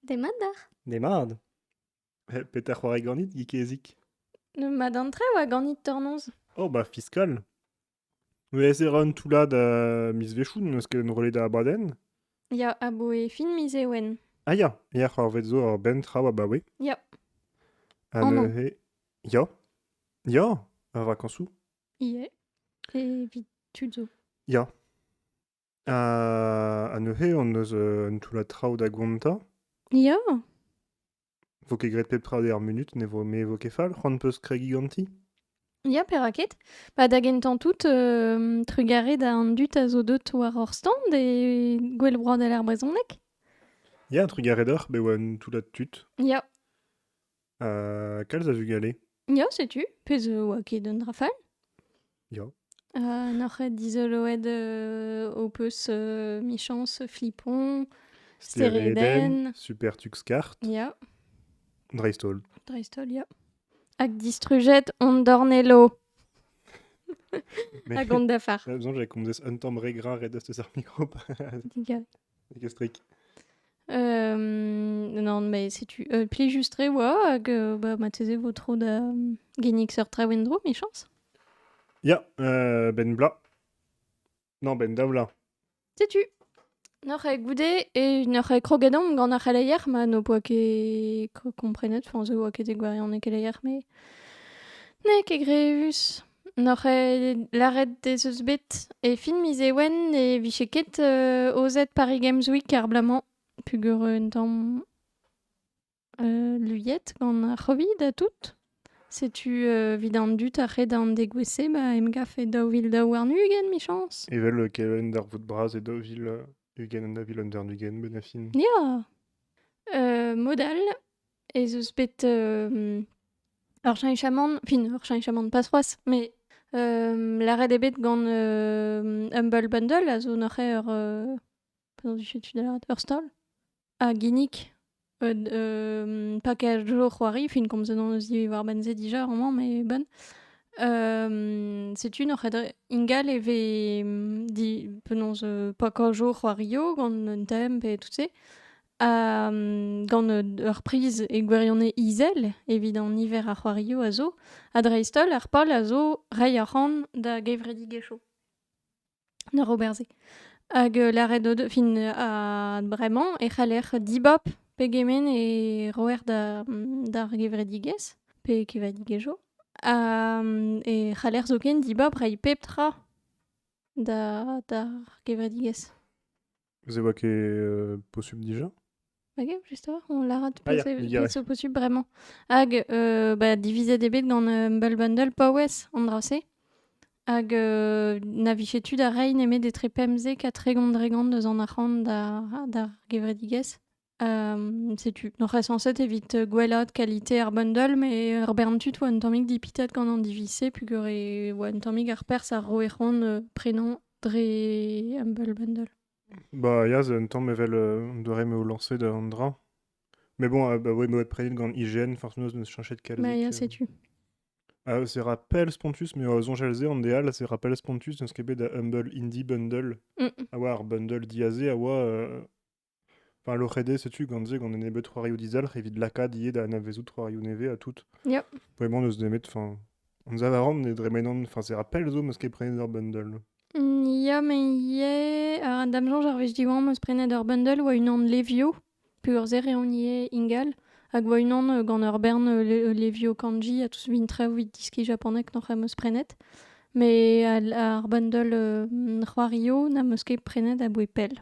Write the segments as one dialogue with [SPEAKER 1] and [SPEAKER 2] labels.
[SPEAKER 1] Demat d'ac'h. Demad. Eh, Petra c'hoari ganit, Gikezik? Ma dantre oa ganit tornoz. Oh, bah, fiskal. Vez e ran toullad euh, miz Vechoun, n'eus ket enrollet da abadenn. Ya, aboe fin miz Ewen. Ah ya, ya, c'hoarvet zo ur benn traoù abaoe. Ya. Ha Oh non. neuze... Ya. Ya, ar vakañsoù. Ie. Evit tud zo. Ya. Ha neuze hon eus euh, un toullad traoù da gontañ. Ya, Vo ket graet pep tra d'er munut, ne vo me vo ket fall. C'hoant peus kregiñ ganti? ya, peraked. Pa da gentañ tout, euh, trugarez da an dud a zo deut war hor stand e Gouel Broadel ar Brezhoneg. Ya, trugarez deoc'h, bet oa un toullad tud. Ya, Euh, kalz a vugale. Ya, setu. Pezh a oa ket un dra fall. Ya. Uh, N'oc'h dizoloet euh, ho peus euh, michañs Flipon, Steredenn. Super Tux Kart. Ya, Dreistol. dreistol, ya. Hag distrujet on dornello Mais- hag on dafar. J'ai besoin, j'ai comme des un temps regra red de micro. Digal. Plegestrik. non, mais setu euh, plejustré oa hag euh, bah, marteze vo tro da mm, gennig seurt traoù en-dro, michañs? Ya, euh, ben bla. Non, ben davla. Setu. Noc'h goude e noc'h krogadomp gant ar c'heleier ma n'o poa ket komprenet, enfin zo oa ket e gwarianez keleier, mais n'eo ket grevus. N'oc'h ket lâret ez eus bet e fin miz Ewen ne vije ket euh, aozet Paris Games Week ar bloaz-mañ, pugur un tamm euh, luiet gant ar Covid ha tout. Setu euh, 'vit an dud ar re d'an degouezh-se ba emgav e daou vil daou warn-ugent michañs. Evel euh, Kevin darvoud bras e daou vil ugent ha daou vil ugent-ugent, benafin. Ya! Euh, mod all, ez eus bet euh, ur cheñchamant, fin, ur cheñchamant pas c'hoazh, mais euh, lâret eo bet gant euh, Humble Bundle a zo neuze ur... euh, p'en dije tu da lâret, ur stall a ginnig euh, d- euh, pas qu'à jour c'hoari, fin komzet hon eus ivez war Benze dija amañ, mais bonne. Euh, setu noc'het ingal e vez mm, di, penaos euh, pas qu'à jour c'hoario gant un thème pe tout se. gant ur priz e gwirionez izel evit an niver a c'hoarioù a zo, ha dreist-holl ar pal a zo reiñ arc'hant da gevredigezhioù da ober-se. Hag euh, lâret o fin ha bremañ e c'haller dibab pegement e roer d'ar gevredigezh pe kevadigezhioù. e c'haller zoken dibab reiñ pep tra d'ar gevredigezh. Vous évoquez euh, possible déjà Ok, juste toi, on l'a tout Ah, yeah, c'est je dirais. c'est possible vraiment. Hag euh, bah, diviser des bits gant euh, Humble Bundle paouez andrase. Hag euh, navichetu da rein eme des trepemze ka tregont dregont deus an arc'hant d'ar d'ar gevredigez. setu. Donc, reste censé évite gwella qualité ar bundle, mais ar bern tud oa un tammig dipitet gant an divise, pugure oa un tammig ar pers a roe c'hoant euh, prenañ dre Humble Bundle. Bah, ya, un tamm evel euh, on doit me lancer d'un dra. Mais bon, ah, bah ouais, me prenet gant IGN, forcément, je me suis changé de calvic. Bah, ya, euh. sais-tu. Ah, c'est rappel Spontus, mais euh, zonjalzé en déal, c'est rappel Spontus, dans ce qu'est da Humble Indie Bundle. Mm. Awa ar bundle diazé, awa euh, Enfin, l'OCD, setu gant se gant un nebeud c'hoarioù dizalc'h evit lakaat ivez da anavezout c'hoarioù nevez ha tout. Ja. Vraiment, n'eus nemet... Enfin, anzav a ran ne dremenan... Enfin, c'est ra pell zo m'eus ket prenet ur bundle. Mm, Ya, mais ivez... euh, Da'm soñj, ar wech diwañ m'eus prenet ur bundle oa unan Levio, peurzer eo hon ivez ingal, hag oa unan euh, gant ur bern euh, Le- euh, Levio Kanji ha tout vin traoù vit diski japonek noc'h am eus prenet. Mais al- ar bundle euh, c'hoario n'am eus ket prenet aboe pell.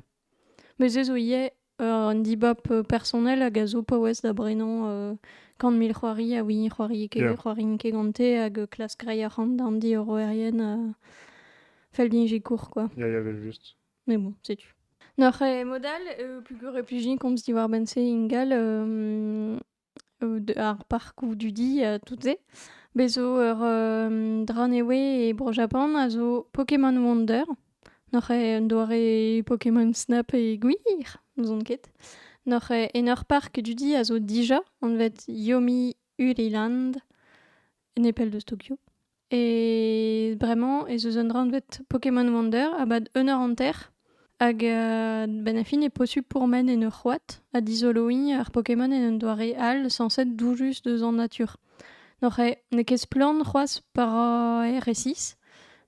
[SPEAKER 1] Met se zo ivez un dibab personnel hag a zo paouez da brenañ gant mil c'hoari ha hini c'hoari ket c'hoari n'int ket gante hag klask reiñ arc'hant d'an diorroerien fell din sikour quoi. Ya ya evel-just. Mais bon setu. Noc'h eo mod all, peogwir e plijen komz diwar-benn-se ingal ar parkoù dudi, tout-se. Bez zo ur euh, Drunneway e Bro-Japan a zo Pokémon Wonder. N'oc'h eo un doare Pokémon Snap e gwir, n'ouzon ket. N'oc'h eo en ur park dudi a zo dija, anvet Yomi Uriland, nepell deus Tokyo. Et bremañ ez eus un anvet Pokémon Wonder a-bad un eur hanter. Hag euh, benn ar fin e posupl pourmen en ur c'hoad ha dizoloiñ ar Pokémon en un doare all sañset doujus deus an natur. N'oc'h eo n'eo ket splann c'hoazh pa rae resis.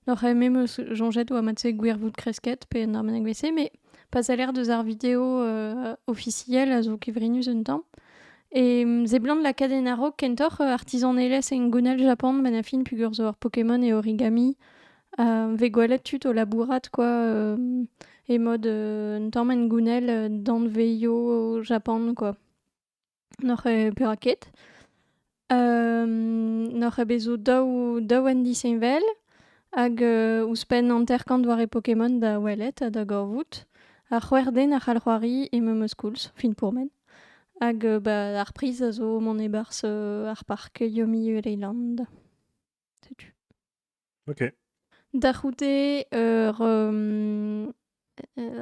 [SPEAKER 1] N'oc'h eo me 'm eus soñjet oa mat-se gwirvoud kresket pe un arbennik bet-se, met pas a-lec'h deus ar video euh, ofisiel a zo kevrinus un tamm. E seblant lakaat en a-raok kentoc'h euh, artizanelezh en gounnel Japan, manafin pugur zo ur Pokémon e origami. Uh, vez gwelet tud o labourat quoi euh, e mod euh, un tamm en gounnel euh, danveio Japan quoi. N'oc'h eo perak ket. Euh, n'oc'h eo bet zo daou, daou en disheñvel hag euh, ouzhpenn hanter-kant doare Pokémon da welet ha da gavout. Ar c'hwec'h den a c'hall c'hoari e memes koulz, fin pourmen. Hag bah ar priz a zo mont e-barzh ar park Yomi Leyland. Setu. Ok. Da c'houde ur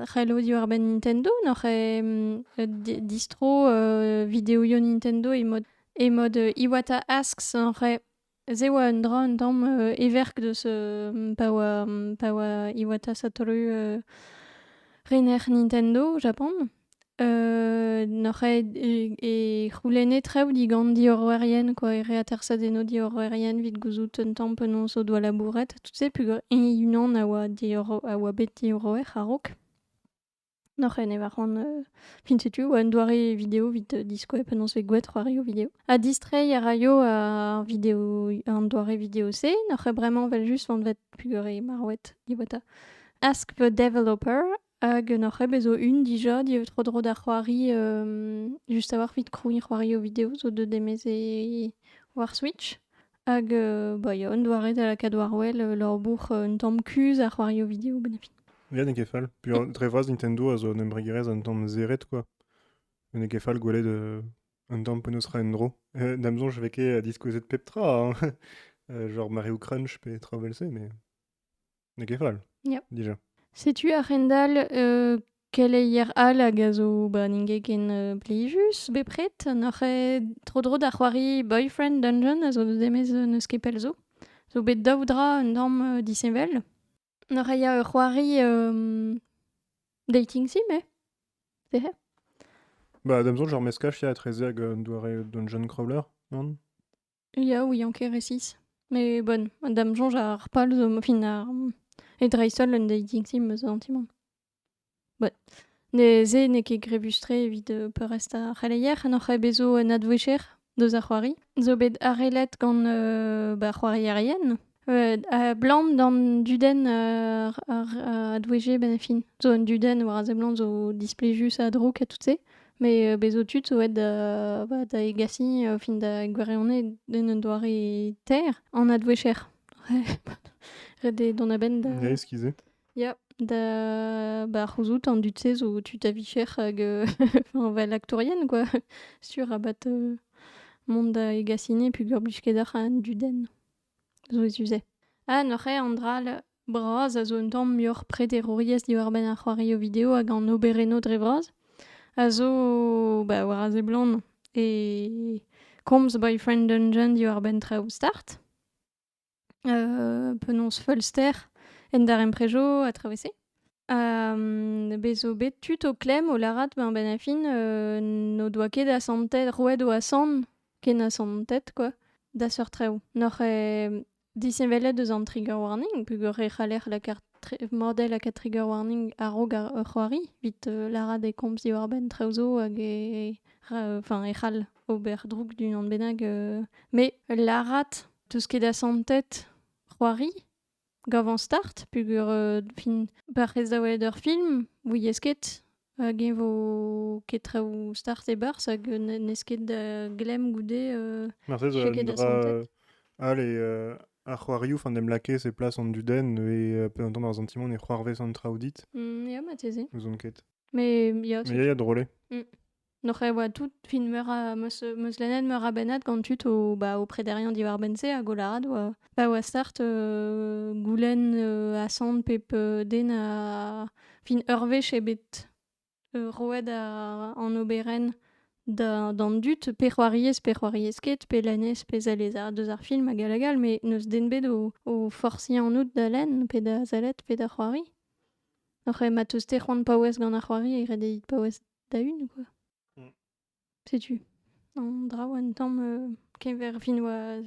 [SPEAKER 1] c'hello diwar-benn Nintendo n'oc'h distro videoioù Nintendo e mod Iwata Asks oc'h Se e oa un dra un tamm euh, everk deus euh, pa oa pa oa Iwata Satoru euh, rener Nintendo, Japon. Euh, n'oc'h aet e, e c'houlenne traoù digant diorroerien, quoi, e reatersañ eno diorroerien evit gouzout un tamm penaos o doa labouret. Tout se peogwir e unan a oa, diorro, a oa bet diorroer a-raok. Noc'h eo ne war c'hoant euh, fin setu un doare vidéo evit euh, diskoe penaos vez gouet c'hoarioù vidéo. Ha distreiñ a raio ar vidéo, an doare vidéo-se, noc'h eo bremañ vel just vont vet pugore marwet diweta. Ask the developer hag noc'h eo bezo un dija diev tro-dro da c'hoari euh, just a-walc'h evit krouiñ c'hoarioù vidéo zo deuet emeze war Switch. Hag euh, bah, il y a un doare da lakaat war-wel euh, labour euh, un tamm kuzh ar c'hoario vidéo benn ar fin. Ya, n'eo ket fall. Puis euh, dre vras Nintendo a zo un embregerezh un tamm zeret, quoi. Mais n'eo ket fall gwelet euh, un tamm penaos ra en-dro. Euh, D'am soñj e vez ket à discouser de Petra, hein. Euh, genre Mario Crunch pe Travel C, mais... N'eo ket fall ja. dija. Setu a-hend-all euh, keleier all hag a zo ba n'int ken euh, blijus bepred. N'oc'h eo tro-dro da c'hoari Boyfriend Dungeon a zo demez n'eus ket pell zo. Zo bet daou dra un tamm euh, disheñvel. N'oc'h eo ur c'hoari euh, dating sim, eh? C'est hé? Bah, damzo, genre meskaj ya etreze hag un doare dungeon crawler, non? Ya, oui, en resis. Mais bon, da'm soñj ar pal zo fin ar e dreist-holl un dating sim eus an ti-mañ. Bon, neuze n'eo ket grebus-tre evit peurrest ar c'heleier, n'oc'h ket bet zo un advouezher deus ar c'hoari. Zo bet arellet gant ba c'hoarierien. Abalamour d'an dudenn a doueje benn ar fin. Zo un dudenn war a seblant zo displijus ha drouk ha tout-se. Met bez' zo tud zo aet da egasiñ o fin da gwirionez en un doare taer. An advouezher. Ret eo dont a-benn da... Ya, eskizet. Ya, da... Ba c'houzout an dud-se zo tud a-vicher hag fel aktourien quoi, sur rabat mont da egasiñ peogwir blij ket deoc'h an dudenn. Souezhus-se. Ha neuze an dral bras a zo un tamm muioc'h prederouriezh diwar-benn ar c'hoarioù video hag an oberennoù dre vras a zo ba war a seblant e komz Boyfriend Dungeon diwar-benn traoù start. penaos feulster en darempredoù a traoù e-se. bez zo bet tud o klemm o lârat ben fin n'o doa ket asantet roet o asant Kenaz an tet, quoi, da seurt traoù. N'oc'h eo disheñvelet eus an trigger warning, peogwir e c'haller lakaat tre- model lakaat trigger warning a-raok ar ar c'hoari, evit euh, lârat e komz diwar-benn traoù zo hag e, ra- enfin, e c'hall ober droug d'unan bennak. euh. Mais lârat tout ce qui est da santet, c'hoari, Gavañ start peogwir fin parrez daolet ur film ouiez ket hag eñ vo ket traoù start e-barzh hag n'ez ket da glemm goude. Marteze n'eo ket da santet. Ale, ar c'hoarioù 'faint em lakaez e plas an dudenn e pe un tamm ar santimant e c'hoarvez an traoù dit. Ya, marteze. N'ouzon ket. Mais ya, Mais ya, drôle. Mm. Noc'h e oa tout fin meur a meus meus lennet meur a bennad gant tud o bah o prederien diwar-benn-se hag o lâret oa pa oa start heu goulenn heu asant pep heu den a fin ur wech eo bet heu roet a an oberenn da d'an dud pe c'hoariez pe c'hoariez ket pe lennez pe sell ez a deus ar film hag all hag all met n'eus den bet o o forsiñ anout da lenn pe da sellet pe da c'hoari. Noc'h eo ma teus-te c'hoant paouez gant ar c'hoari e gredit paouez da- hun quoi. Mm. Setu. An draoù un tamm euh, keñver fin oa...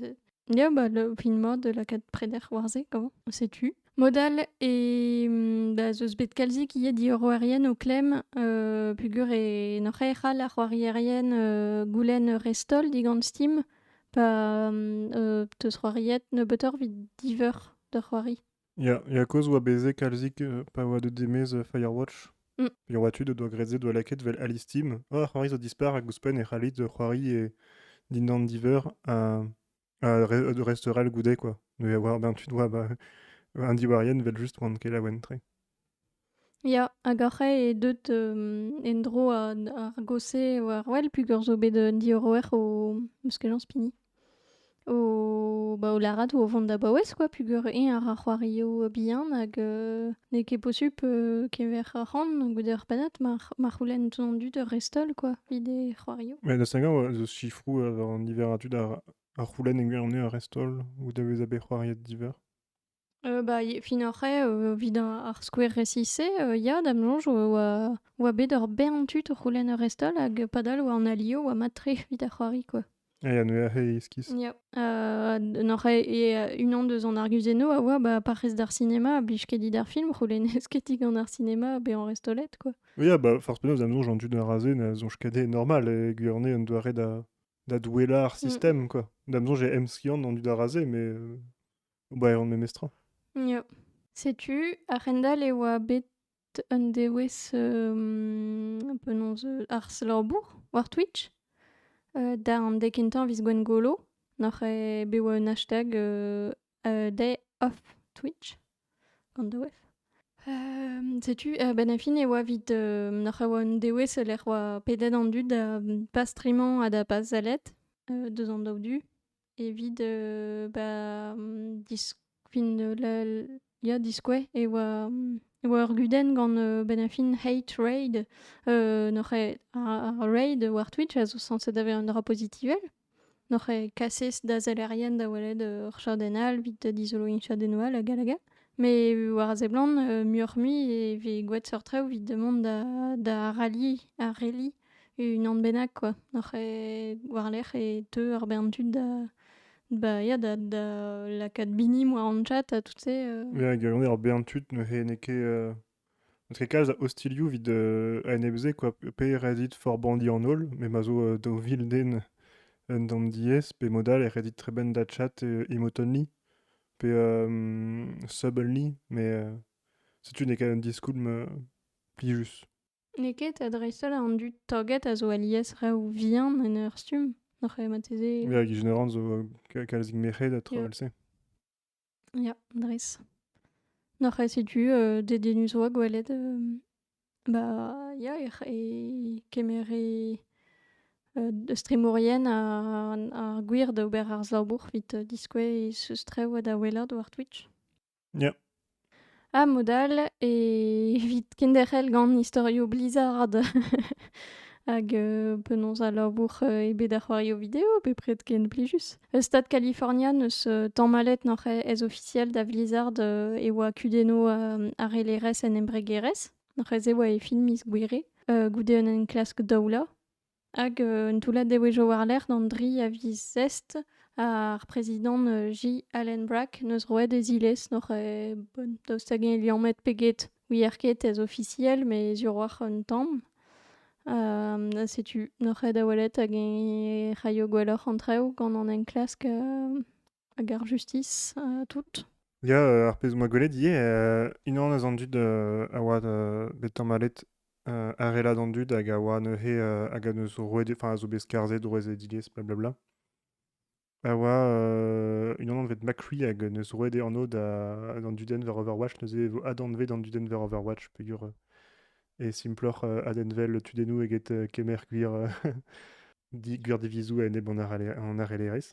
[SPEAKER 1] Ya, bah, le fin mod de lakaat preder war-se, gant. Setu. Mod all e mm, da zeus bet kalzik ivez diorroerien o klemm euh, pugur e noc'h e c'hall ar c'hoarierien euh, goulenn restol digant Steam pa mm, euh, teus c'hoariet nebeutoc'h evit diveur d'ur c'hoari. Ya, ya kozh oa bezet kalzik euh, pa oa deut demez euh, Firewatch. Mm. Pirwat tud o doa graet doa lakaet vel Alice Team. Ah, c'hoari zo dispar hag ouzhpenn e c'hallit euh, c'hoari e dindan diver un, un re- un restaurant goude quoi. Mais war ben tu dois bah, un diwarien vel just oan ket laouen tre. Ya, hag ar c'hae eo deut en-dro ar gosse war wel peogwir zo bet un diorroer o... eus kejañs Pigny. O... ba o lârat o vont da baouez kwa peogwir eñ a ra c'hoarioù bihan hag n'eo ket posupl kever ar c'han goude ar pennad ma c'houlenn tout an dud ur rest-holl kwa evit e c'hoarioù. Met da Saint-Gans zo sifroù war an niver a dud a c'houlenn e gwirionez ur rest-holl goude bezañ bet c'hoariet diveur. Euh, bah, y- fin ar c'hrae, euh, evit ar ar skouer resis-se, euh, ya, da'm soñj oa oa oa bet ur bern tud o c'houlenn ur restol hag padal oa an alio oa mat-tre evit ar c'hoari quoi. Ah, ya, neuze aze iskis. Ya, euh, en oc'h e euh, unan deus an arguzennoù a oa bah, parrez d'ar sinema a blij ket dit ar film, c'houlennez ket dit gant ar sinema bezañ restolet quoi. Oui, ah, bah, forcément, da'm soñj an dud a raze na soñj ket eo normal e gwir eo un doare da da douellañ ar Mm. system, quoi. Da'm soñj e emskiant an dud a raze, mais euh, Ba, on memes tra. Ya. Setu, a-hend-all e oa bet un dewezh um, penaos, euh, arz-labour war Twitch. Euh, da an dek kentañ viz Gwengolo, noc'h eo bet oa un hashtag euh, a day off Twitch, gant the wef. Um, setu, uh, ben fin e oa vit uh, noc'h eo un dewezh e lec'h oa pedet an dud da pas streamañ ha da pas sellet uh, deus an daou du. Evit euh, bah, mm, dis- fin, euh, la- ya, diskouez e oa, mm, e oa ur gudenn gant euh, bennafin Hate Raid. Euh, n'oc'h ket ar ar raid war Twitch a zo sañset da vezañ un dra pozitivel. N'oc'h ket kaset da sellerien da welet euh, ur chadenn all evit dizoloiñ chadennoù all hag all hag all. Mais euh, war a seblant, euh, muioc'h-mui e vez gwelet seurt traoù evit mont da da ralliñ ar reli. Unan bennak kwa, oc'h e war-lerc'h e teu ar bern tud da ba ya da da lakaat binimp war an chat ha tout se euh. Ya hag on eo ar bern tud neuze n'eo ket euh, n'eus ket kalz a ostilhoù evit euh, a enep se quoi, pe ret dit forbandi an holl, me ma zo euh, daou vil den en d'an diez, pe mod all e ret dit tremen da chat euh, emotonli, pe euh, sub-only, mais euh, setu n'eo ket un diskoulm euh, plijus. N'eo ket ha dreist-holl an dud taget a zo alies reoù vihan en ur stumm. Oc'h eh marteze... Ya, Gijin Oran zo kalzik merc'hed ha tro Yeah. all-se. Ya, dres. N'oc'h eh setu euh, dedennus 'oa gwelet euh, ba ya ec'h e kemer e euh, eus tremourien ar ar gwir d'ober ar slabour 'vit diskouez e seustrev ha da welout war Twitch. Ya. Ha mod all evit kenderc'hel gant istorioù Blizzard hag euh, penaos al labour euh, eo bet ar c'hoarioù video bepred ken plijus. E stad California n'eus euh, tamallet noc'h ez ofisiel da Blizzard euh, e oa kudennoù euh, arellerezh en embregerezh. Noc'h ez e oa e film miz Gouere, euh, goude un enklask daoulañ. Hag euh, un toullad devezhioù war-lerc'h d'an dri a viz zest, ar prezidant euh, J. Allen Brack neus roet e zilez n'oc'h eo bon daoust hag-eñ e liammet pe get. Wir ket ez ofisiel, met sur oc'h un tamm. Euh, setu n'oc'h eo da welet hag-eñ e raio gwelloc'h an traoù gant an enklask euh, Hag ar justis, euh, tout. Ya, euh, ar pezh 'moa gwelet ivez, euh, unan eus an dud euh, a oa euh, bet tamallet euh, arela d'an dud hag a oa neuze euh, hag a neus roet, enfin a zo bet skarzet, roet e dilez, blablabla. A oa euh, unan anvet McCree hag neus roet e anv da d'an dudenn war Overwatch, neuze e vo adanvet an dudenn war Overwatch peger euh, e simploc'h euh, adenvel tudennoù eget euh, kemer gwir, euh, di- gwir divizoù a-enep an arele- an arellerezh.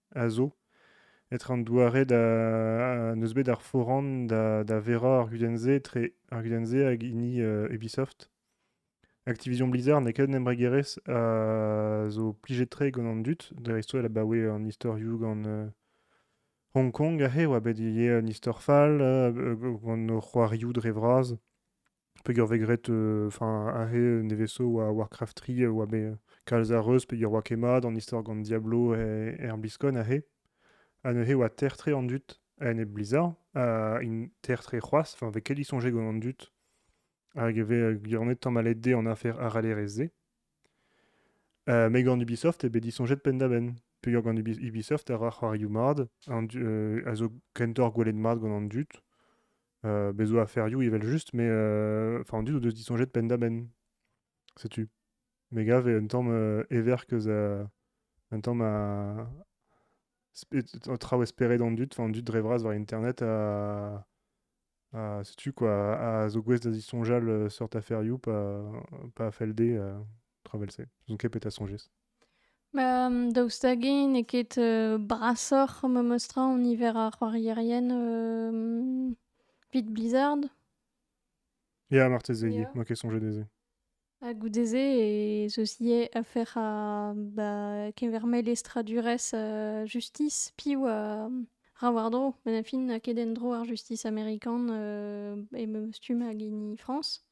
[SPEAKER 1] a zo etre an doare da n'eus bet ar foran da verañ ar gudenn-se etre ar gudenn-se hag hini Ubisoft. Activision Blizzard n'eo ket un embregerezh a zo plijet-tre gant an dud, dreist-holl abaoe an istorioù gant Hong Kong aze e oa bet ivez un istor fall gant o c'hoarioù dre vras. peger vez graet euh, enfin un re neveso war Warcraft 3 euh, oa bet kalz a reuz peger oa ket mat an istor gant Diablo e, er Biscon a he ha neuze oa ter-tre an dud a-enep Blizzard ha int ter-tre c'hoazh enfin vez ket disoñjet gant an dud hag e vez gwirianet tamallet dezhe an afer aralerezh-se uh, met gant Ubisoft eo bet disoñjet penn-da-benn peger gant Ubisoft a ra c'hoarioù mat an du, euh, a zo kentoc'h gwelet mat gant an dud Bez zo aferioù evel-just, mais enfin on dit o deus disoñjet penn-da-benn, sais-tu? Me gav eo un tamm everkeuz un tamm a traoù esperet an dud, enfin an dud dre vras war internet a sais-tu quoi, a zo gouest da zisoñjal seurt aferioù, pa pa fell dezhe tra evel-se N'on ket bet a soñjez. Bah, daoust hag eo n'eo ket euh, brasoc'h memes tra en niver ar c'hoarierien euh, vit Blizzard Ya, marteze, yeah. N'on ket soñjet dezhe. Ha goude-se, et ceci est affaire à bah, keverme lestradures euh, justice piv a ra war-dro. Ben a fin, a ket en-dro ar justice américaine euh, et memes tu ma gini France.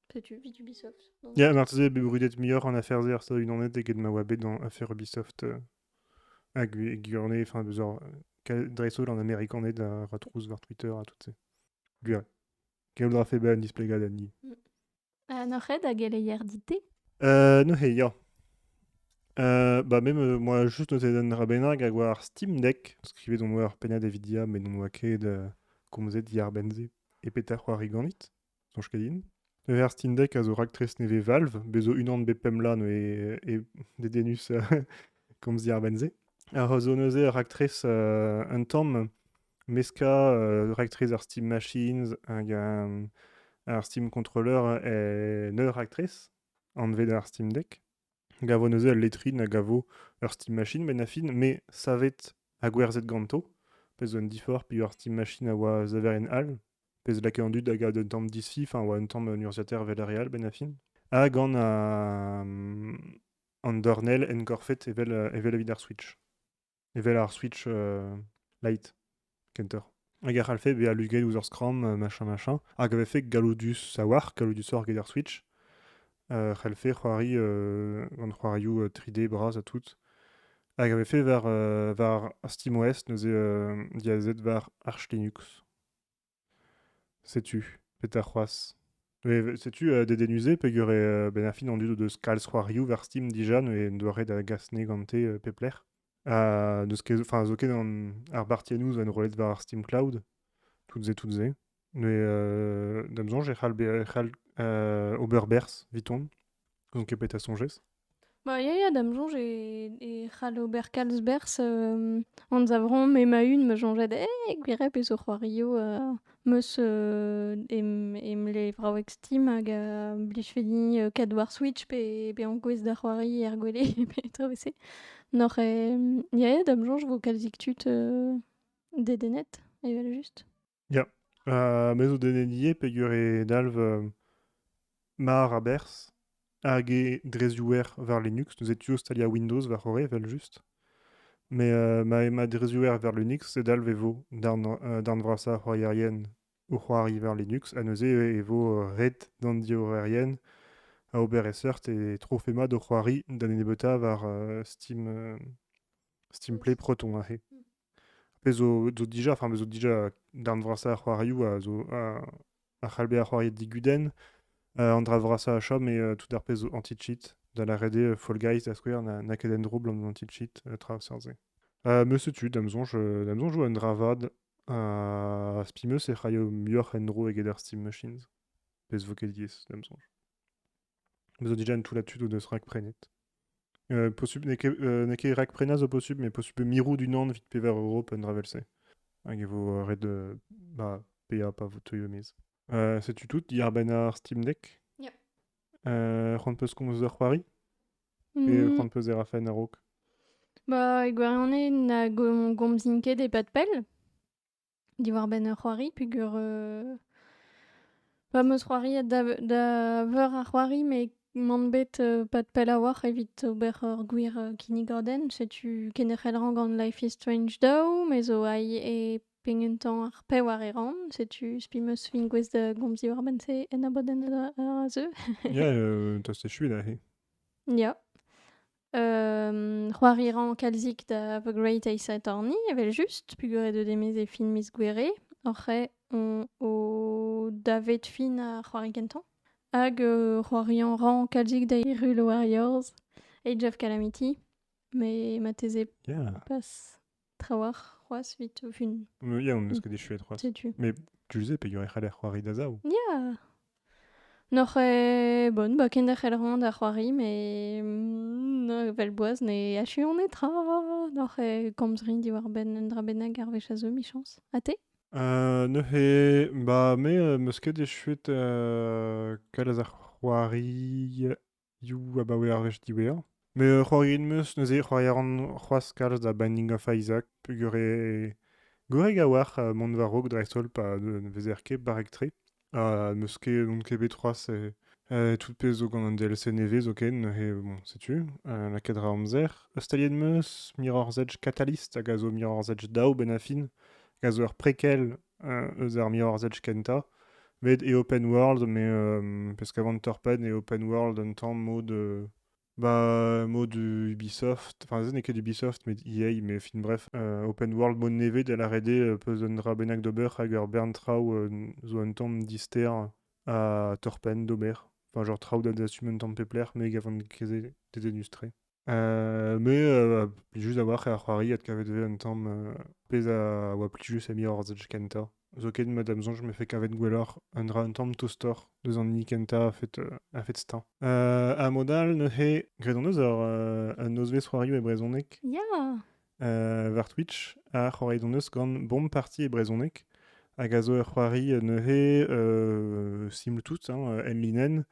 [SPEAKER 1] Peut-être Ubisoft. Ubisoft. Donc... Ya, marteze bet brudet muioc'h en affaires er Stadoù-Unanet eget ma oa bet dans affaire Ubisoft euh, à Gurnay, enfin, genre, Dreidel en américanais la retrousse voir Twitter à toutes ces. Guré. Quel aura fait ban displega d'Annie. Euh, no red hag eleier dite Euh, no he, ya. Euh, bah même euh, moi juste noté den rabenag hag war Steam Deck skrivet on war Pena Davidia mais on oa ket euh, komzet diar benze e petar c'hoar riganit Soñj ket din. Pevar Stindek a zo raktres nevez Valve. Bez' zo unan bep pemp bloaz neuze e dedennus komzi ar benn-se. A zo neuze ur raktres euh, un tamm meskañ euh, raktres ar Steam Machines hag euh, ar Steam Controller en ur raktres anvet ar Steam Deck. gavo neuze al letrin a gavo ur stimachine bennafi me savet ha gwerzhet ganto pezh zo un diforc'h peogwir ar stimachine a oa saverien all pezh lakae an dud a gav d'un tamm disfi enfin a oa un tamm un urzhiataer velreal bennafi ha gant an dornell enkorfet evel evit ar switch evel ar Switch Lite, kentoc'h. Hag a c'hallfe bezañ luget ouzh ur skramm, machin, machin. Hag a vefe galoudus a-walc'h, galoudusoc'h get ar Switch. a c'hellfe c'hoari gant c'hoarioù 3D bras ha tout. Hag a vefe war, war SteamOS, neuze diazet war Arch Linux. Setu petra c'hoazh. Mais setu euh, dedennus-se peger eo euh, benn ar fin an dud deus kalz c'hoarioù war Steam dija neuze en doa ret da gas ne gante euh, pep lec'h. Ha n'eus ket, enfin zo ket an, ar bartiennoù zo enrollet war ar Steam Cloud, tout-se, tout-se. Neuze euh, d'am soñj e c'hall, be- e c'hall euh, ober berzh, 'viton. N'on ket bet a soñjez. Bah, ya, ya, da'm soñj e e c'hall ober kalz berzh, hem, anzavramp ema-un ma soñjed eh, gwirèh pe zo c'hoario, heu, 'm eus, heu, em em levraoueg Steam hag, heu, blijfedi, heu, kadwar Switch pe pe ankouaez da c'hoari er gwele pe tra vese. N'oc'h, hem, ya, ya, da'm soñj 'vo kalzik tud, heu, dedennet, evel-just. Ya. Euh, me zo denet ivez peger e dalv euh, mar a-berzh hag e drezioùer war Linux. Neuze tu zo staliañ Windows war-c'horre evel-just. Mais euh, ma, ma drezioùer war Linux, e dalv e vo darn, euh, darn vrasañ ar c'hoarierien o c'hoari war Linux. Ha neuze e vo euh, ret d'an diorrerien a ober e seurt e trofe mat o c'hoari da nebeutañ war euh, Steam, euh, Steam Play Proton aze. Pezh zo, zo dija, enfin, pezh zo dija darn vrasañ ar c'hoarioù a zo a c'hall bezañ c'hoariet digudenn. Euh, an dra vrasañ a chom eo euh, tout ar pezh zo anti-cheat. Da lâret eo, Fall Guys, da skouer, n'a ket en dro 'blam anti-cheat, euh, tra zer-se. me setu, da'm soñj, da'm soñj 'vo un dra vat. Ha spi 'm eus e c'haio muioc'h en-dro eget ar Steam Machines. Pezh 'vo ket diaes, da'm soñj. Vous avez déjà une toulatude ou de se rakprenet euh, possible, n'est ket rakprena zo possible, mais possible mirou du nan vit pevar euro pa ravelse. Hag e vo ret de ba, pea pa vo teuio mez. Euh, setu tout, Yarban ar Steam Deck. Yep. Euh, c'hoant peus komz d'ur c'hoari Et mm. c'hoant peus erafen a-raok Bah, e gwarione na gomzin ket e-pad pell. Diwar-benn ur c'hoari peger... euh, Va 'm eus c'hoariet da ve- da veur a c'hoari met m'on bet euh, pad pell a-walc'h evit ober ur gwir euh, kinnigadenn. Setu kenderc'hel-rañ gant Life is Strange daou, me zo ail e pegen tamm ar pevar e ran. Setu spi 'm eus fin gouest da gomz diwar-benn-se en abadenn a a zeu. Ya, euh, tost echu da se. Ya. Euh, c'hoariran kalzik da The Great Ace Attorney, evel-just, pugoret eus demez e film miz Gouere, oc'h on o davet fin a c'hoari gentañ. Hag euh, c'hoarian ran kalzik da Hyrule Warriors, Age of Calamity, mais mateze yeah. pas trawalc'h c'hoazh evit o vun. Ya, on eus ket echuet c'hoazh. Setu. Mais tu sais peger e c'haller c'hoari da zaou. Ya! Noc'h eo bon, ba kenderc'hel roan da c'hoari, mais mm, vel boaz ne achuan netra. Noc'h eo komz rin diwar-benn un dra bennak ar wech a zo, michañs. Ha te? Uh, neuze, ba me euh, meus ket echuet uh, kalz a c'hoari You abaoe ar wech diwezhañ. Met ur c'hoarier 'meus neuze, c'hoari a ran c'hoazh kalz da Binding of Isaac peogwir eo gorrek a-walc'h uh, mont war-raok dreist-holl pa ne vezer ket barrek-tre. Ha n'eus ket, n'on ket bet c'hoazh eh, eh, tout pezh zo gant an DLC nevez zoken, neuze bon, setu, uh, lakaet ra amzer. Staliet 'meus Mirror's Edge Catalyst hag a zo Mirror's Edge daou benn ar fin, hag a zo ur prequel eus ar mirorzhedj kentañ. Met e open world, mais euh, parce qu'avant de Torped et open world un temps mode euh, bah, mode Ubisoft, enfin ce n'est que d'Ubisoft mais EA, mais enfin bref, euh, open world mode neved à l'arrêdé euh, peus un dra bennak d'ober hag ur bern traoù euh, zo un tamm dister à torpèn d'ober. Enfin genre traoù da dastum un tamm pep lec'h mais gavant kezet dedenus tre. Euh, mais euh, pli just a-walc'h ar c'hoari adkavet vez un tamm euh, pezh a oa pli just emior ar ZH kenta. Zoken ma dam soñj me fe kavet gwelloc'h un dra un tamm tostoc'h deus an hini kenta a-fet euh, a-fet stañ. Euh, ha mod all neuze, graet hon eus ur euh, un nozvezh c'hoarioù e brezhoneg. Ya! war Twitch. Ha c'hoareit hon eus gant Bomb Party e brezhoneg, hag a zo ur c'hoari neuze euh, simple tout, hein, M-Linen.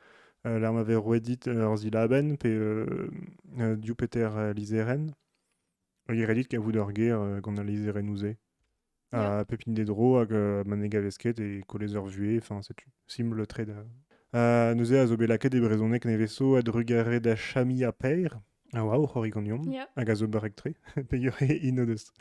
[SPEAKER 1] Euh, Lar ma vez roet dit ur zilabenn pe euh, euh, diou peter euh, lizherenn. Hag e redit kavout ur ger euh, gant al lizherennoù-se. à pépiner des droits, que mané gavesquet et coller leur vuée, enfin c'est sim le trade. Euh, nous a zobelaket e brezonek neveso a drugare da chami a peir, a oa o c'horigonion, hag a zo barektre, pegure ino deus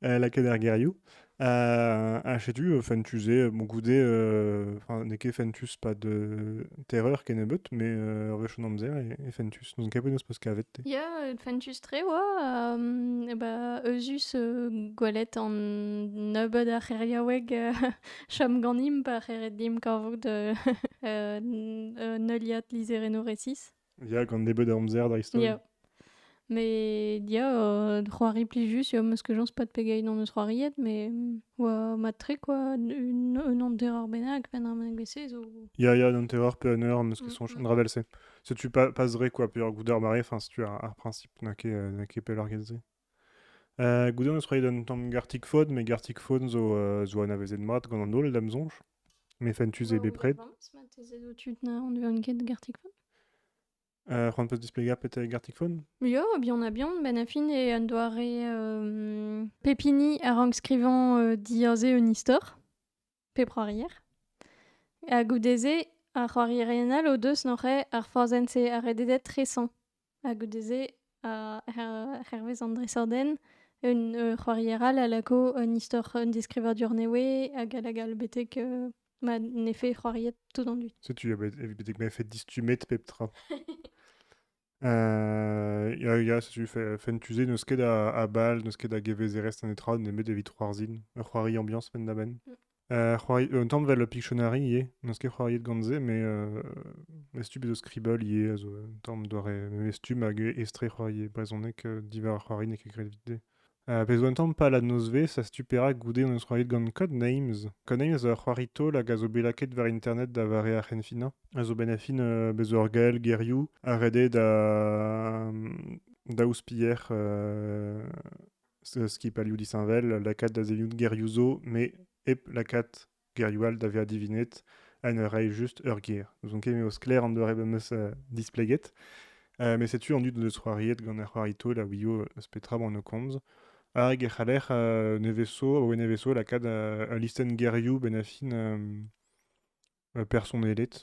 [SPEAKER 1] euh, la keder geriou. Euh, a chetu euh, fentuse, bon goude, euh, enfin, neke fentus pas de terreur kenebeut, mais euh, rech an amzer e, e fentus. n'en kavet az peus kavet te Ya, fentus-tre oa. e ba, eus euh, gwelet an nebeud ar c'heriaoueg euh, chom ganimp pa c'heret dimp kavout euh, un heuliad lizereno resis. Ya, gant nebeud amzer da historia. Mais ya, euh, c'hoari plus yo meus que j'en pas de pegeit on eus c'hoariet, mais oa matre quoi, un an terreur benak, pen an BC zo... Ya, ya, un terreur pe un heure, meus que son mm, mm. ravelse. Setu pas, pas dre quoi peur gouder mare, enfin setu ar, ar principe n'a ket n'a ket pelloc'h get se. Euh, gouder eus reiet un tamm gartik faot, mais gartik faot zo euh, zo anavezet mat gant an holl da'm soñj. Mais fentus eo bepred. On devait une quête de garticphone euh, C'hoant peus displegañ peut-être garticphone Jo, bien on a bien. Ben affin e un doare euh, pepini a rank skrivañ euh, dire ze un istor. pe c'hoarier. Ha goude-se, ar c'hoarierien all o deus noc'he ar forzhenn-se ha rededet tresañ. Ha goude-se, hervez an dresadenn, un c'hoarier all a lako un istor, un deskrivadur nevez hag hag all betek ma n'eo c'hoariet tout an dud. Setu, evit betek m'eo fait distummet pep tra. Euh, ya, ya, setu fait, fait tuzé, n'eus ket a, a bal, n'eus ket a gevezerezh netra, nemet evit c'hoarzhin. Ur c'hoari ambiañs penn da benn. Mm. Euh, c'hoari, un tamm vel Pictionary ivez, n'eus ket c'hoariet gant se, mais euh, e stup eus Scribble ivez, a zo un tamm doare, me stup hag estre c'hoari e brezhoneg, euh, diwar ar c'hoari n'eo ket graet evit se. A vez un tamm pal an nozvezh a setu perak goude hon eus c'hoariet gant Codenames. Codenames a ur c'hoari taol hag a zo bet lakaet war internet da vare ar c'henfinañ. A zo bet fin uh, bez ur gael gerioù ha ret eo da, da ouzpier uh, skipailhoù disheñvel lakaat da sellout gerioù zo, met hep lakaat gerioù all da vezañ divinet ha ne rae just ur ger. N'ouzon ket m'eo sklaer an doare ma 'meus displeget. met setu an dud neus c'hoariet gant ar c'hoari taol a ouio eus petra emañ o komz. Hag e c'haller nevesañ, abaoe nevesañ, lakaat ul listenn gerioù benn ar fin personelet.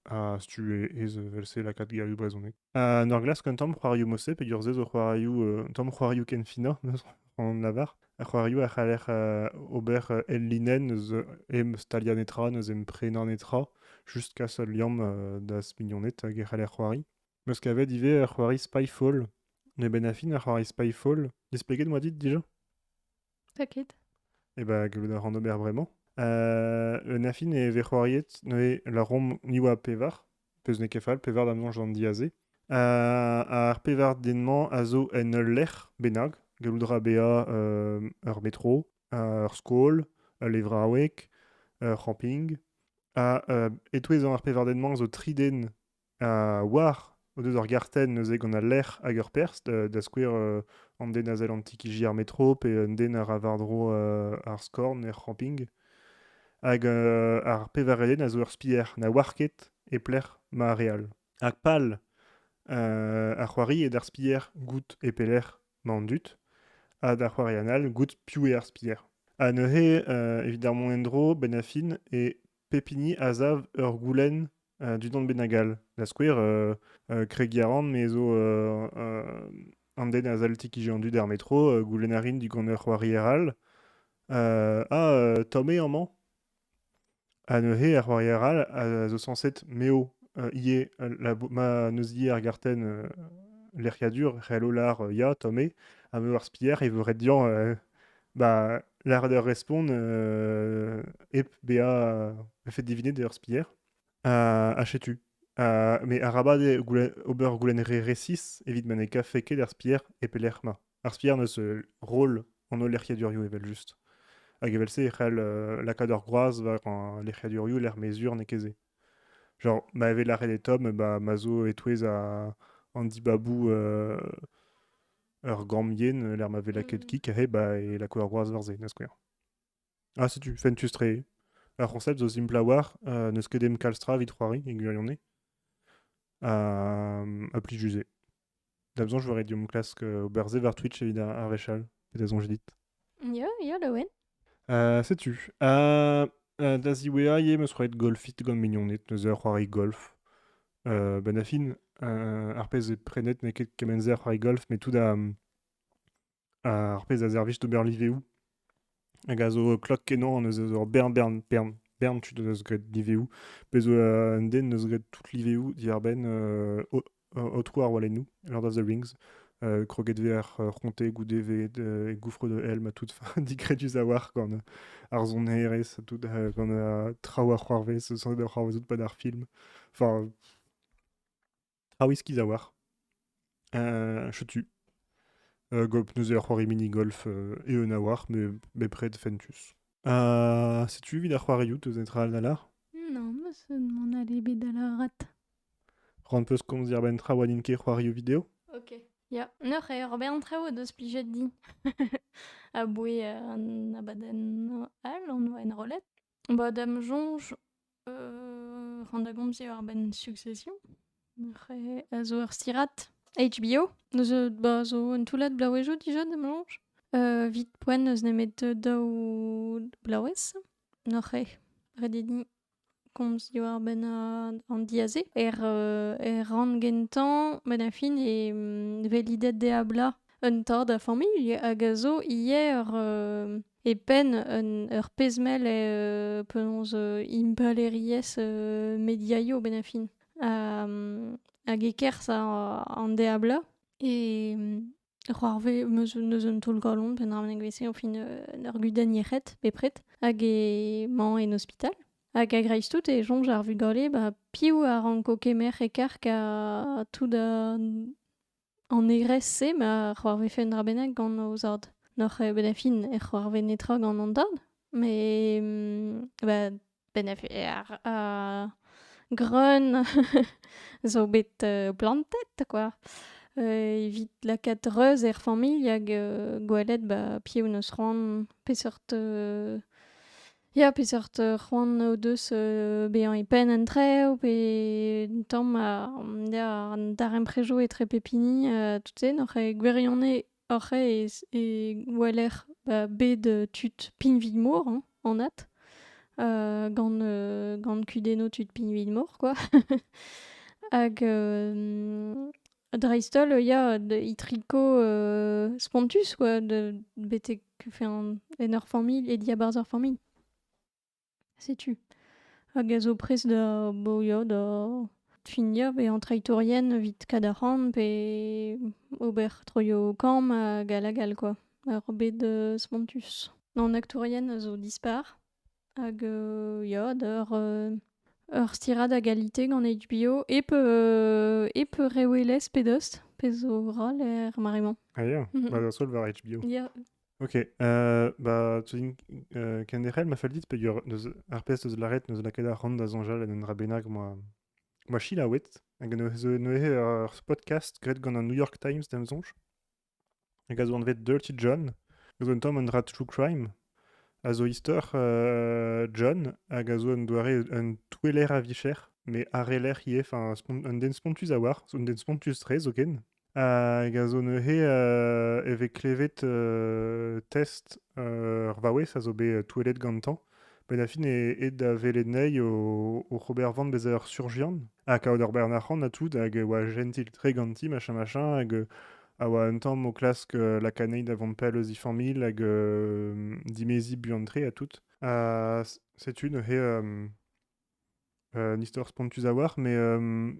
[SPEAKER 1] a-stu aes evel-se lakaat gerioù brezhonek. En ur glask un tamm c'hoarioù-mose, peger-se zo c'hoarioù, un tamm c'hoarioù ken finañ, on lavar. Ar c'hoarioù a c'haller ober el linenn eus em staliañ netra, eus em prenañ netra, just kas ul liamm d'az mignoned hag e c'haller c'hoari. Meus kavet ivez ur c'hoari Spyfall. N'eo bet a fin ar c'hoari Spyfall. Displeget 'moa dit dija? T'as ket E bah, gallout a ran ober bremañ. Euh, un affin e vez c'hoariet neuze larom ni oa pevar, peus n'eo ket fall, pevar da mañs d'an diaze. Euh, ar pevar den-mañ a zo en ul lec'h bennak, gallout a ra bezañ euh, ur metro, euh, ur skol, ul levraoueg, ur c'hamping. Ha euh, e-touez ar pevar den-mañ zo tri den war o deus ur gartenn neuze gant al lec'h hag ur perzh, da skouer an den a sell antikiji ar metro pe un den a ra war-dro ar skorn er c'hamping. Hag ar pevar eden a zo ur spier na oar ket e-lec'h ma re all. Ha pal ar c'hoari eo d'ar spier goût e pelec'h ma an dud, ha d'ar c'hoarian all goût piv eo ar spier. Ha neuze evit ar mont en-dro, benn ar fin e pep hini a sav ur goulenn dindan bennak all. Da skouer, kregiñ a ran, me zo an den a sell ti-kiziñ an dud er metro, goulenn a rin digant ur c'hoarier all, ah, tamm eo amañ? Ha neuze ar c'hoarier all a zo sañset m'eo ivez ma neuz ivez ar gartenn lec'hiadur, c'hello lar ya, tamm eo, ha m'eo ar spier e vo ret dezhañ bah, l'art de respond euh, ep bea fait diviner de spier euh, achetu. Euh, mais arabad e goulen, ober goulen re resis evit ma ne kafe ket ar spier e pelec'h ma. Ar spier neus euh, roll an holl lec'hiadurioù evel just. Hag evel se e c'hell euh, lakaat ur groaz war an lec'hiadurioù lec'h mezur n'eo ket se. Genre, ma evit lâret e tom, bah, ma zo e-touez a, an dibabou euh, ur gamm yen lec'h ma vez lakaet kig hep e lakaout ar groaz war-se da skouer. Ah, setu, fentus-tre. Ar c'honsept zo simpl war, uh, n'eus ket em kalz tra evit c'hoari e gwirionez. Ha, ha plus just-se. Da besoin, je verrais du mon classique euh, ober ça vers Twitch evit un, un réchal. Peut-être on dit. Ya, ya, Laouen. Euh, sais-tu euh, euh, Da ziwea eo meus roet golfit gant mignoned, neuze ur c'hoari golf. Euh, ben da fin, euh, ar pezh eo prenet n'eo ket kement-se ar c'hoari golf, mais tout da, ar pezh a servij d'ober liveoù. Hag a zo klok kenañ, neuze zo ur bern, bern, bern, bern tud deus graet liveoù. Pezh zo euh, un den neus graet tout liveoù diarbenn euh, aotrou ar walennoù, Lord of the Rings. Euh, kroget vez ar euh, c'honte goude vez e goufre de helm ha tout digredus a-walc'h gant ar sonerezh tout gant traoù a c'hoarvez sans da c'hoarvezout pad ar film enfin traoù iskiz a-walc'h euh, chetu euh, golf neus ur c'hoari mini-golf euh, eeun a-walc'h mais bepred fentus euh, setu evit ar c'hoarioù teus netra all da lar non me se m'en allez bet da la rat Ran 'peus komz diàr-benn traoù ha n'int ket c'hoarioù video? Ok, ya. Neuze, ur bern traoù o deus plijet din aboe an abadenn all on oa enrollet. Ba da'm soñj euh, ran da gomz ivez àr-benn Succession. Neuze a zo ur stirad HBO zo ba zo un toullad bloavezhioù dija da'm soñj. Euh, 'Vit poent n'eus nemet daou blaouez. Neuze, ret eo din komz diwar-benn an diazez. Er, er rann gentañ, benn a fin e velidet d'e ablañ un tad a familh hag a zo ivez ur, e penn un, ur pezh-mell e penaos impalaeriezh mediaio benn a fin. hag e-kerzh an deablañ e C'hoarvez meus neus un taol-galon penaos menegvese o fin en ur gudenn yec'hed bepred hag emañ en ospital. Hag a-greiz-tout e soñj ar vugale ba piv a ranko kemer e-karg ha tout an an egrez-se ma c'hoarvefe un dra bennak gant o zad. N'oc'h bet a fin e c'hoarvez netra gant an dad, met ba benefier. Uh, greun zo bet uh, plantet, quoi. Uh, evit lakaat reuz er familh hag uh, gwelet ba, piv neus c'hoant, peseurt... Uh, ya, peseurt uh, c'hoant o deus uh, bezañ e penn an trev, pe un tamm uh, ya, an darempredoù etre pep hini, uh, tout-se, n'oc'h gwirionez Oc'h aes e weler ba bed tud pinvig-mor hein, anat, gant gant kudennoù tud pinvig-mor quoi. Hag dreist-holl ya itriko spontus quoi, betek en ur familh e diabarzh ur familh. Setu. Hag a zo prest da boya da finia bezañ treitourien evit kadarn pe ober troioù kamm hag all hag all quoi. Ar bed spontus. An aktourien a zo dispar. Hag ya, d'eur ur stirad a galite gant HBO hep hep re welez pe dost, pezh zo ral er mare-mañ. Ah ya, ma da seul war HBO. Ya. Ok, euh, bah, tu dis euh, Kenderel m'a fait le dire, pe yor neus ar pezh neus lâret neus lakaet ar c'hant da soñjal en un dra bennak moa moa chilaouet, hag neuze neuze ur podcast graet gant an New York Times d'am soñj, hag a zo anvet Dirty John, a zo un tamm un dra true crime, a zo istor euh, John, hag a zo un doare un toueller a vicher, mais areller ivez, enfin un den spontus a oar, un den spontus-tre zoken, Hag a zo neuze euh, e vez klevet euh, test euh, ur vaouez a zo bet euh, touellet gantañ. Benn da fin e aet da welet ney o- oc'h ober van bezañ ur surjian. Ha kaout ur bern arc'hant ha tout, hag e oa jentil-tre ganti, machin machin, hag euh, a oa un tamm o klask euh, laka ney da vont pell eus he familh hag euh, dimeziñ buan-tre ha tout. Ha s- setu neuze euh, Un istor spontus a-walc'h, mais euh,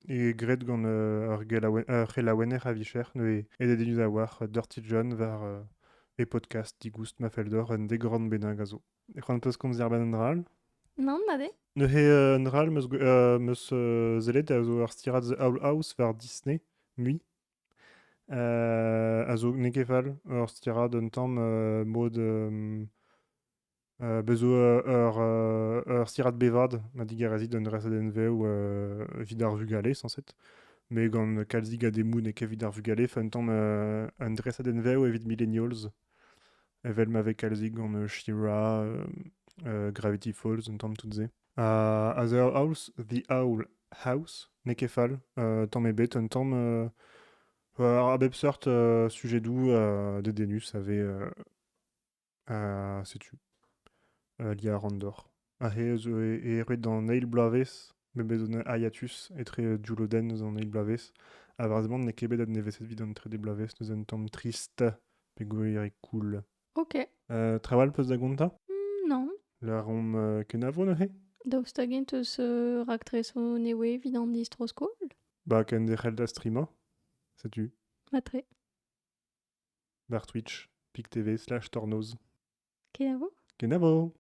[SPEAKER 1] e graet gant euh, ar, gelaouen- ar c'helaouenner a vicher, neuze e dedennus a-walc'h Dirty John war euh, e podcast digoust ma fell deoc'h un degorn bennak a zo. C'hoant peus komzer benn un dra all? Nann, ma be. Neuze euh, un dra all meus, gwe- euh, meus euh, sellet a zo ar stirad The Owl House war Disney, mui. Euh, a zo n'eo ket fall, ur stirad un tamm euh, mod euh, Euh, bez zo euh, ur, euh, ur stirad bevad ma digarezit d'un resadenn-vev euh, evit ar vugale, sañset. Mais gant kalzig a demoù n'eo ket evit ar vugale, un tamm euh, un dresadenn-vev evit millennials, evel ma vez kalzig gant euh, She-Ra, euh, euh, Gravity Falls, un tamm tout-se. Uh, as a house, the owl house, n'eo ket fall, euh, tamm ebet, un tamm euh, a bep seurt euh, sujet doù euh, de denus a vez euh, Ha setu. Euh, Lia Randor. Ha he eus e roet d'an eil bloavezh, me bet un hiatus etre dioulodenn eus an eil bloavezh, ha vrezhoneg n'eo ket bet adnevezet evit an trede bloavezh, neuze un tamm trist, pe gwir e cool. Ok. Euh, trawal peus da gontañ? Mm, non. Lâromp euh, kenavo neuze? Daoust hag-eñ teus euh, raktreso newe evit an distro-skol? Ba kenderc'hel da strimañ? Setu. Matre. D'ar Twitch, pik-tv slash tornoz. Kenavo! Kenavo!